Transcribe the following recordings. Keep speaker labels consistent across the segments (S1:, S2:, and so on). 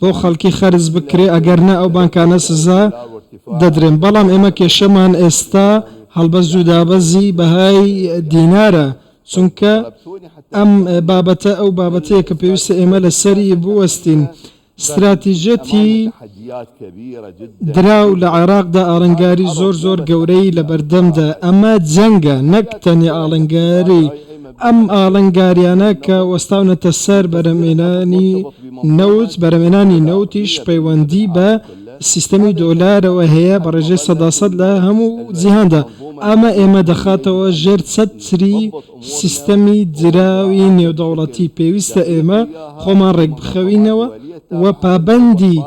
S1: بۆ خەڵکی خەرج بکرێ، ئەگەر نا ئەو بانکانە سزا دەدرێن، بەڵام ئێمە کێشەمان ئێستا هەڵبەست زوو دابەزی بەهای دینارە، چونکە ئەم بابەتە ئەو بابەتەیە کە پێویستە ئێمە لەسەری بوەستین. ستراتیجیەتی دراو لە عێراقدا ئاڵنگاری زۆر زۆر گەورەی لەبەردەمدایە، ئەمە جەنگە نەک تەنیا ئاڵنگاری ئەم ئاڵنگاریانە کە وەستاونەتە سەر بەرهەمێنانی نەوت، بەرهەمێنانی نەوتیش پەیوەندی بە سیستەمی دۆلارەوە هەیە بە ڕێژەی سەدا سەد لە هەموو جیهاندا، ئەمە ئێمە دەخاتەوە ژێر چەتری سیستەمی دراوی نێودەوڵەتی، پێویستە ئێمە خۆمان ڕێکبخەوینەوە و پابەندی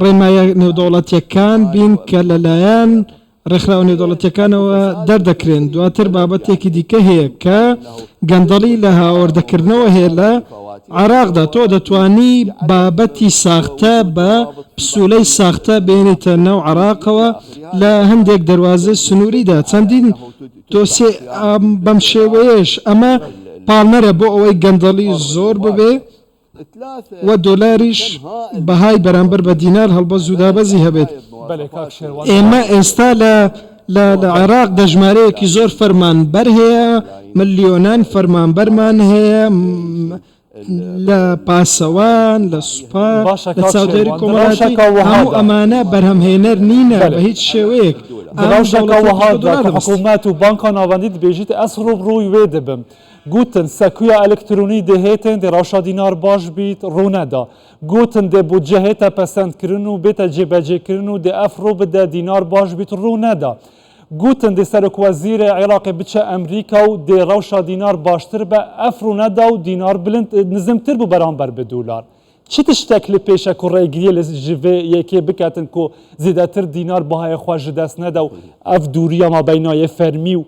S1: ڕێنماییە نێودەوڵەتییەکان بین کە لەلایەن ڕێکخراوە نێودەوڵەتییەکانەوە دەردەکرێن، دواتر بابەتێکی دیکە هەیە کە گەندەڵی لە هاوردەکردنەوە هەیە لە عێراقدا، تۆ دەتوانی بابەتی ساختە بە پسولەی ساختە بێنیتە ناو عێراقەوە لە هەندێک دەروازەی سنووریدا، چەندین دۆسێ بەم شێوەیەش، ئەمە پاڵنەرە بۆ ئەوەی گەندەڵی زۆر ببێ، و دۆلاریش بەهای بەرامبەر بە دینار هەڵبەز و دابەزی هەبێت. ئێمە ئێستا لە لە لە عێراق دەژمارەیەکی زۆر فەرمانبەر هەیە، ملیۆنان فەرمانبەرمان هەیە لە پاسەوان، لە سوپا، لە چاودێری کۆمەڵایەتی، هەموو ئەمانە بەرهەمهێنەر نینە بە هیچ شێوەیەک. ئەم دەوڵەتە
S2: بە دۆلار دەبەستێت. گوتن، سەکویا ئەلکترونی دێ هێتێن دێ رەوشا دینار باش بیت روونە دا. گوتن، دێ بودجە هێتە پەسەند کرن و بێتە جێبەجێ کرن و دێ ئەف روو بدە دینار باش بیت روونە دا. گوتن، دێ سەرۆک وەزیرێ عیراقێ بچە ئەمریکا و دێ رەوشا دینار باشتر بە ئەف روونە دا و دینار بلند، نزمتر بوو بەرامبەر بە دولار. چ تشتەک لە پێشە کو رێگریێ لە ژ ڤێ یەکێ بکەتن کو زێدەتر دینار بەهایێ خوە ژ دەس نەدا و ئەف دووریە مابەینایێ فەرمی و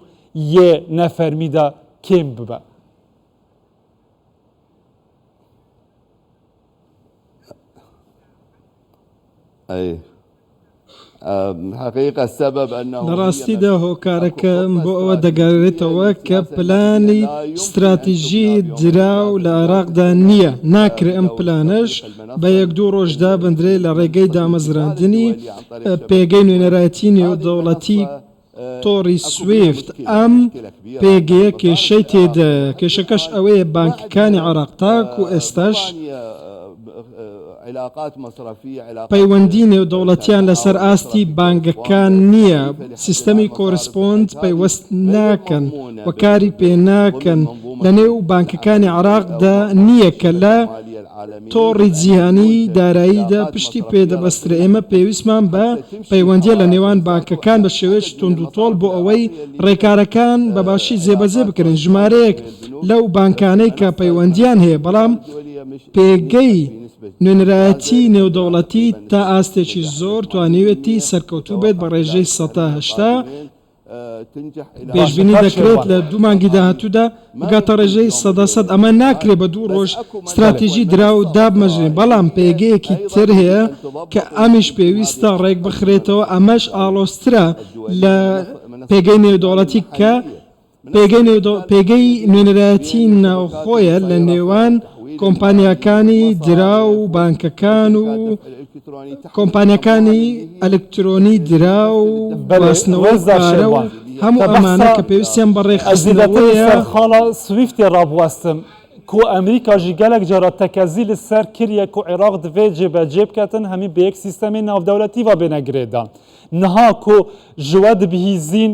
S2: یێ نە فەرمی دە کێم ببە.
S1: لە ڕاستیدا هۆکارەکە بۆ ئەوە دەگەڕێتەوە کە پلانی ستراتیژی دراو لە عێراقدا نییە، ناکرێ ئەم پلانەش بە یەک دوو ڕۆژ دابندرێ لە ڕێگەی دامەزراندنی پێگەی نوێنەرایەتی نێودەوڵەتی تۆڕی سویفت ئەم پێگەیە کێشەی تێدایە، کێشەکەش ئەوەیە بانکەکانی عێراق تاکو ئێستاش پەیوەندی نێودەوڵەتیان لەسەر ئاستی بانگەکان نییە، سیستەمی کۆرسپۆند پەیوەست ناکەن و کاری پێناکەن، لەنێو بانکەکانی عێراقدا نییە کە لە. تۆڕی جیهانیی دارایی دە پشتی پێ دەبەسترێ، ئێمە پێویستمان بە پەیوەندییە لە نێوان بانکەکان بە شێوەیەکی توندوتۆڵ بۆ ئەوەی ڕێکارەکان بە باشی جێبەجێ بکرێن، ژمارەیەک لەو بانکانەی کە پەیوەندییان هەیە بەڵام پێگەی نوێنەرایەتی نێودەوڵەتی تا ئاستێکی زۆر توانیوێتی سەرکەوتوو بێت بە ڕێژەی سەتا هەشتا. پێشبینی دەکرێت لە دوو مانگی داهاتوودا بگاتە ڕێژەی سەدا سەد، ئەمە ناکرێت بە دوو ڕۆژ ستراتیژی دراو دابمەزرێن، بەڵام پێگەیەکی تر هەیە کە ئەمیش پێویستە ڕێکبخرێتەوە، ئەمەش ئاڵۆزترە لە پێگەی نێودەوڵەتی کە پێگەی نوێنەرایەتی ناوخۆیە لە نێوان کۆمپانیاکانی دراو و بانکەکان و کۆمپانیاکانی ئەلکترۆنی دراو و گواستنەوەی پارە و هەموو ئەمانە کە پێویستیان
S2: بە
S1: ڕێکخستنەوەیە. کو
S2: ئەمریکا ژی گەلەک جارا تەکەزی لە سەر کریە کو عراق دڤێ جێ بە جێ بکەتن هەمی بە یەک سیستەمێ ناڤدەولەتی ڤە بێنە گرێ دان نها کو ژوە دبهیزین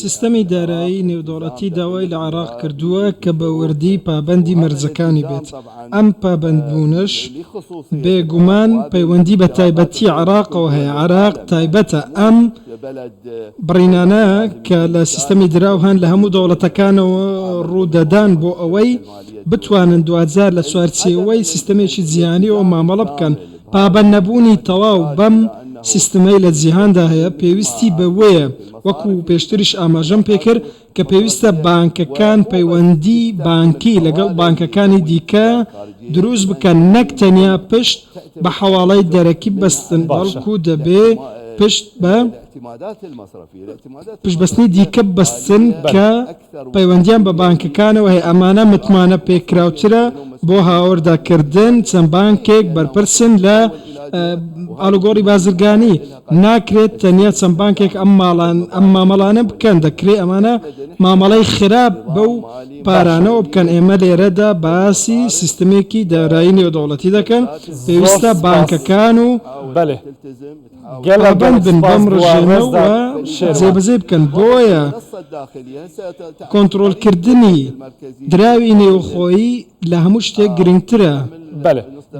S3: سیستەمی دارایی
S1: نێودەوڵەتی داوای لە عێراق کردووە کە بە وردی پابەندی مەرجەکانی بێت، ئەم پابەندبوونەش بێگومان پەیوەندی بە تایبەتی عێراقەوە هەیە، عێراق تایبەتە، ئەم بڕینانە کە لە سیستەمی دراو هەن لە هەموو دەوڵەتەکانەوە ڕوودەدان بۆ ئەوەی بتوانن دواجار لە چوارچێوەی سیستەمێکی جیهانییەوە مامەڵە بکەن، پابەند نەبوونی تەواو بەم سیستمەی لە جیهاندا هەیە پێویستی بەوەیە وەکو پێشتریش ئاماژەم پێکرد کە پێویستە بانکەکان پەیوەندی بانکی لەگەڵ بانکەکانی دیکە دروست بکەن نەک تەنیا پشت بە حەواڵەی دەرەکی ببەستن بەڵکو دەبێ پشت بە پشتبەستنی دیکە ببەستن کە پەیوەندیان بە بانکەکانەوە هەیە ئەمانە متمانە پێکراوترە بۆ هاوردە کردن چەند بانکێک بەرپرسن لە ئالوگۆری بازرگانی ناکرێت تەنیا چەند بانکێک ئەم ماڵان ئەم مامەڵانە بکەن دەکرێت ئەمانە مامەڵەی خراپ بەو پارانەوە بکەن ئێمە لێرەدا باسی سیستمێکی دارایی نێودەوڵەتی دەکەن پێویستە بانکەکان و. پابەندبن بەم ڕژێمە و جێبەجێی بکەن، بۆیە کۆنتڕۆڵکردنی دراوی نێوخۆیی لە هەموو شتێک گرنگترە.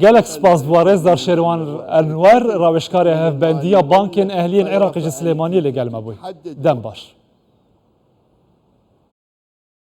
S2: گەلەک سوپاس بۆ ڕێزدار شێروان ئەنوەر، ڕاوێژکارێ هەڤبەندییە بانکێن ئەهلیەن عێراقیژە سلێمانییە لەگەلمە بوی. دەم باش.